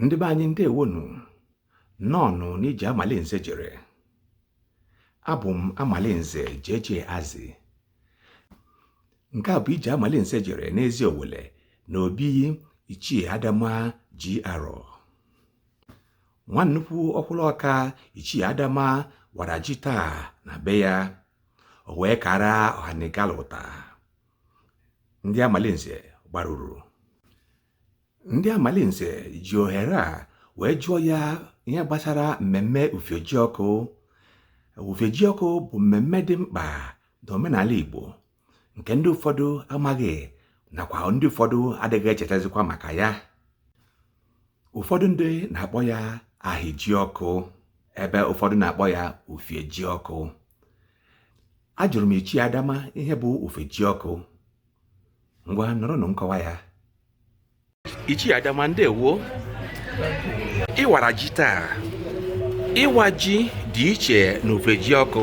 ndị be anyị ndewonu nnọọnụ n'ije amalinze jere abụ m amalinze jeje azi nke a bụ ije amalinze jere n'eziowelle na obi ichie adama ji arọ nwa nnukwu ọkwụrụ ọka ichie adama wara ji taa na be ya o wee kara ọhanigalụta ndị amalinze gbaruru ndị amalinze ji ohere a wee jụọ ya ihe gbasara mmemme ufiejiọkụ ufiejiọkụ bụ mmemme dị mkpa n'omenala Igbo nke ndị ụfọdụ amaghị nakwa ndị ụfọdụ adịghị echetazikwa maka ya ụfọdụ ndị na-akpọ ya ahịajiọkụ ebe ụfọdụ na-akpọ ya ufiejiọkụ ajụrụ m ichie adama ihe bụ ufiejiọkụ ngwa nụrụnụ nkọwa ya ichie adama ndewo ị wara ji taa ịwa ji dị iche na ufiejiọkụ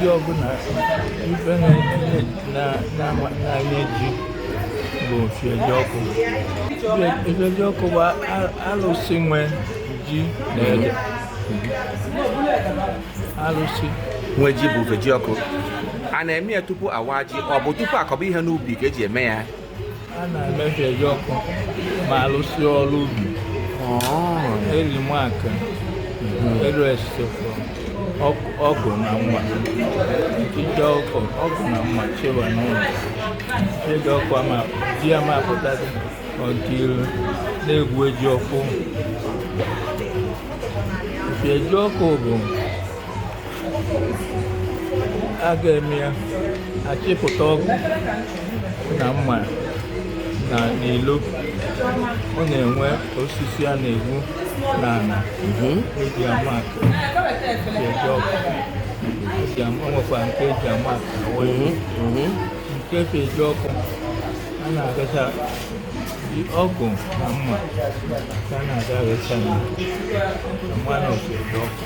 ji ọbụla ife na-enye ji bụ ufiejiọkụ ufiejiọkụ bụ alụsị nwe ji na ede alụsị nwe ji bụ ufiejiọkụ a na-eme ya tupu awa ji ọ bụ tupu akọba ihe n'ubi ka eji eme ya a na-eme ufiejiọkụ ma a lụsịa ọrụ ubi eri m aka elu esekwa ọgụ na mma ije ọkụ ọgụ na mma chewa n'ụlọ ije ọkụ ama di ya ma apụta dị ọdịilu na-egbu ejiọkụ ufiejiọkụ bụ a ga-eme ya achịpụta ọgụ na mma na n'ilo ọ na-enwe osisi a na-egwu n'ala mhm. eji ama aka ejiọkụ nwekwa nke eji ama aka mhm, mhm. nke ejiọkụ a na-agacha ọgụ na mma ka a na-aga aghacha na mmanụ ọkụ eji ọkụ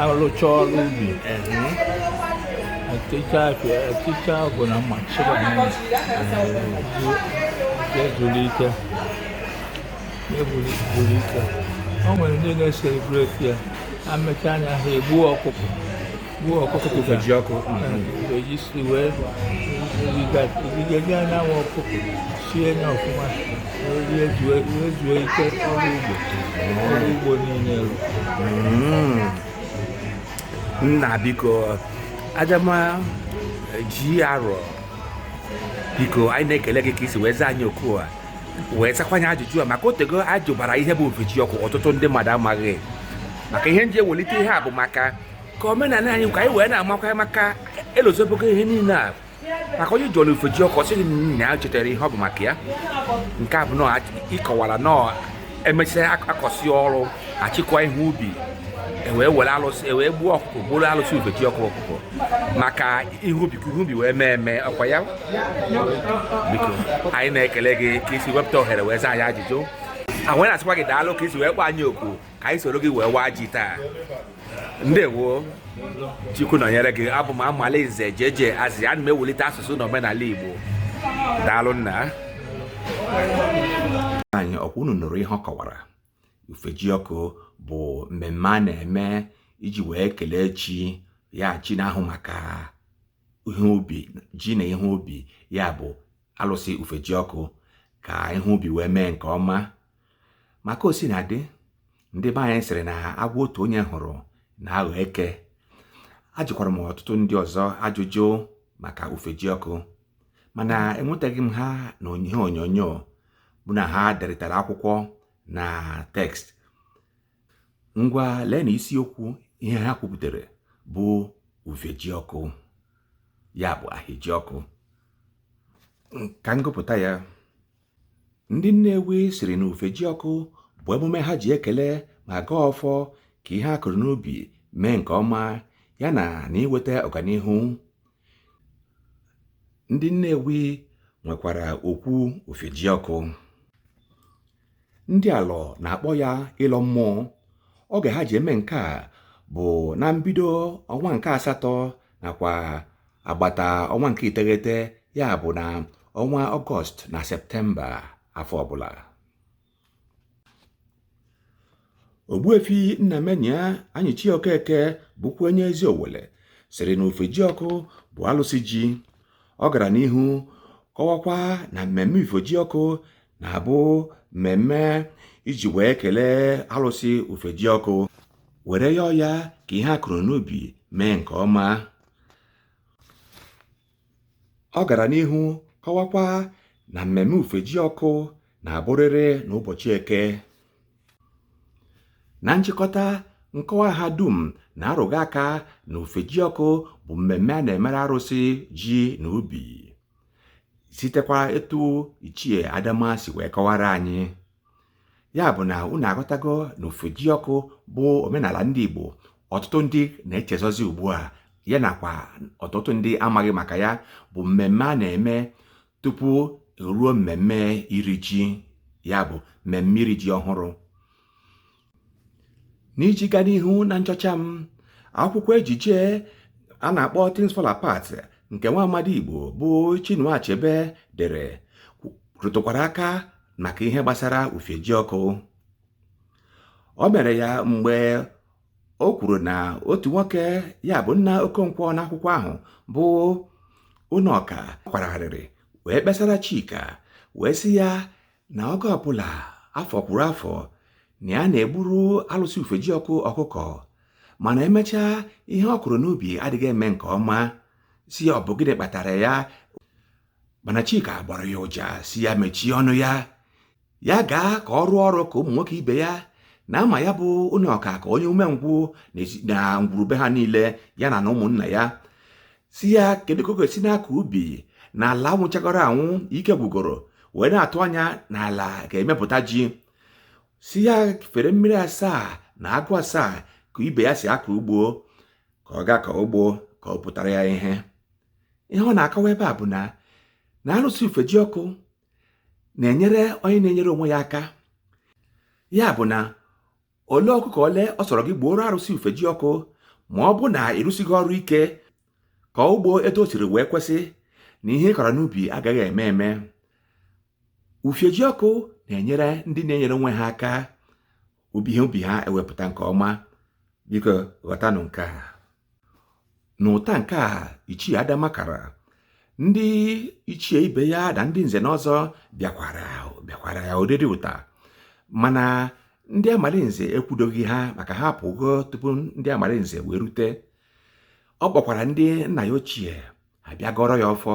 alụcha ọrụ ubi eticha afịa eticha ọgụ na mma chịba n'ụlọ ezuru ike o nwere ndị na-eselebreti ya emecha nya ha egbuo ọkụkọ Gbuo ọkụkọ ka Ufejiọkụ eji si wee rigazie na nwa ọkụkọ sie ya ọfụma wee zuo ike ọrụ ugbo ọrụ ugbo niile rụ nna biko adama ji arọ biko anyị na-ekele gị ka i si wee zaa anyị oku a wee zakwanye ajụjụ a maka otego ajụbara ihe bụ Ufejiọkụ ọtụtụ ndị mmadụ amaghị maka ihe nji ewelite ihe a bụ maka ka omenala anyị ka anyị wee na-amakwa maka elozobego ihe niile a maka onye jụrụ Ufejiọkụ sịghị na ya chetara ihe ọ bụ maka ya nke a bụ na ị kọwara na emesịa akọsị ọrụ achịkwa ihe ubi ewee were alụsị ewee gbuo ọkụkọ gburu alụsị Ufejiọkụ ọkụkọ maka ihe ubi ka ihe ubi wee mee eme ọkwa ya biko anyị na-ekele gị ka i si wepụta ohere wee zaa anyị ajụjụ a wee na-asịkwa gị daalụ ka i si wee kpọọ anyị oku ka anyị soro gị wee waa ji taa ndewo chukwu nọnyere gị abụ m amalaeze jeje azị ana m ewulite asụsụ na omenala igbo daalụ nna anyị ọkwa unu nụrụ ihe ọ kọwara Ufejiọkụ bụ mmemme a na-eme iji wee kelee chi ya chi na-ahụ maka ihe ubi ji na ihe ubi ya bụ alụsị Ufejiọkụ ka ihe ubi wee mee nke ọma maka o si na dị ndị be anyị sịrị na agwọ otu onye hụrụ na-aghọ eke ajụkwara m ọtụtụ ndị ọzọ ajụjụ maka Ufejiọkụ mana enwetaghị m ha na ihe onyonyo bụ na ha deritara akwụkwọ na tekst ngwa lee na isiokwu ihe ha kwupụtara bụ Ufejiọkụ ya bụ Ahịajiọkụ ka m gụpụta ya ndị Nnewi sịrị na Ufejiọkụ bụ emume ha ji ekele ma gọọ ọfọ ka ihe a kụrụ n'ubi mee nke ọma ya na na iweta ọganihu ndị Nnewi nwekwara okwu Ufejiọkụ ndị Alọ na-akpọ ya ịlọ mmụọ oge ha ji eme nke a bụ na mbido ọnwa nke asatọ nakwa agbata ọnwa nke iteghete ya bụ na ọnwa ọgọst na septemba afọ ọbụla Ogbuefi Nnamenya Anyịchie Okeke bụkwa onye Eziowelle sịrị na Ufejiọkụ bụ alụsị ji ọ gara n'ihu kọwakwa na mmemme Ufejiọkụ na-abụ mmemme iji wee kelee alụsị Ufejiọkụ were yọọ ya ka ihe a kụrụ n'ubi mee nke ọma ọ gara n'ihu kọwakwa na mmemme Ufiejiọkụ na-abụrịrị n'ụbọchị Eke na nchịkọta nkọwa ha dum na-arụga aka na Ufiejiọkụ bụ mmemme a na-emere arụsị ji na ubi sitekwa etu Ichie Adama si wee kọwara anyị ya bụ na unu aghọtago na Ufiejiọkụ bụ omenala ndị Igbo ọtụtụ ndị na-echezọzi ugbu a ya nakwa ọtụtụ ndị amaghị maka ya bụ mmemme a na-eme tupu ruo mmemme iri ji ya bụ mmemme iri ji ọhụrụ n'iji gaa n'ihu na nchọcha m akwụkwọ ejije a na-akpọ Things Fall Apart nke nwa amadi Igbo bụ Chinua Achebe dere rụtụkwara aka maka ihe gbasara Ufiejiọkụ o mere ya mgbe o kwuru na otu nwoke ya bụ nna Okonkwo n'akwụkwọ ahụ bụ Unoka kwara arịrị wee kpesara Chika wee sị ya na oge ọbụla afọ kwuru afọ na ya na-egburu alụsị Ufiejiọkụ ọkụkọ mana e mechaa ihe ọ kụrụ n'ubi adịghị eme nke ọma sị ya ọ bụ gịnị kpatara ya mana Chika gbara ya ụja sị ya mechie ọnụ ya ya gaa ka ọ rụọ ọrụ ka ụmụ nwoke ibe ya na a ma ya bụ Unoka ka onye umengwụ na ngwuru be ha niile ya na na ụmụnna ya sị ya kedu ka ọ ga-esi na-akọ ubi na ala nwụchagoro anwụ ike gwugoro wee na-atụ anya na ala ga-emepụta ji sị ya fere mmiri asaa na agụ asaa ka ibe ya si akọ ugbo ka ọ gaa kọọ ugbo ka ọ pụtara ya ihe ihe ọ na-akọwa ebe a bụ na na arụsị Ufiejiọkụ na-enyere onye na-enyere onwe ya aka ya bụ na ole ọkụkọ ole ọ sọrọ gị gbuoro arụsị Ufiejiọkụ ma ọ bụ na ị rụsighị ọrụ ike kọọ ugbo etu o siri wee kwesị na ihe ị kọrọ n'ubi agaghị eme eme Ufiejiọkụ na-enyere ndị na-enyere onwe ha aka ubi ihe ubi ha ewepụta nke ọma biko ghọtanụ nke a n'ụta nke a Ichie Adama kara ndị ichie ibe ya na ndị nze na ọzọ bịakwara bịakwara ya oriri ụta mana ndị Amalinze ekwudoghị ha maka ha pụgo tupu ndị Amalinze wee rute ọ kpọkwara ndị nna ya ochie ha bịa gọrọ ya ọfọ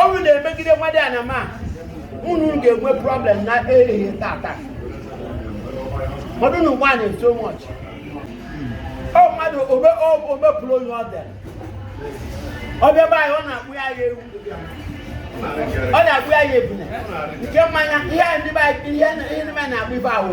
ọnwụ na-emegide nwadịana ma unu ga-enwe problem na ehihie tata mmadụ na nwaanyị so much ọ mmadụ omepụrụ onye ọ dịara ọ bịa be anyị ọ na-akpụ ya ya ewu ọ na-akpụ ya ya ebune nke mmanya ihe ndị be anyị ihe ndị be anyị na-akpụ ife ahụ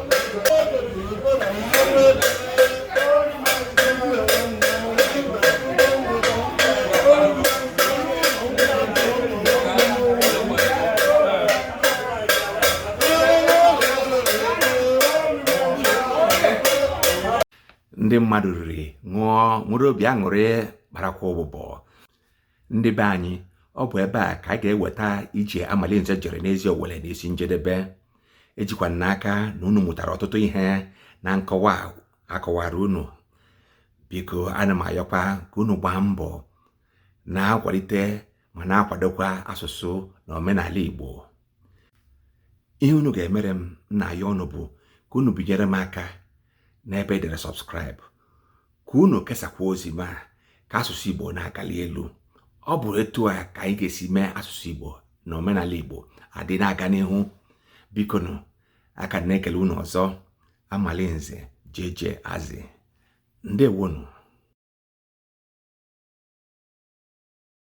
ndị mmadụ riri ṅụọ nwere obi aṅụrị kparakwa ụbụbọ ndị be anyị ọ bụ ebe a ka anyị ga-eweta ije Amalinze jere n'ezi Owere n'isi njedebe ejikwa m n'aka na unu mụtara ọtụtụ ihe na nkọwa a kọwara unu biko ana m ayọkwa ka unu gbaa mbọ na-akwalite ma na-akwadokwa asụsụ na omenala Igbo ihe unu ga-emere m m na-ayọ unu bụ ka unu binyere m aka n'ebe e dere subscribe ka unu kesakwa ozi mee ka asụsụ Igbo na-agali elu ọ bụ etu a ka anyị ga-esi mee asụsụ Igbo na omenala Igbo adị na-aga n'ihu biko nụ aka m na-ekele unu ọzọ Amalinze jeje azị ndewonụ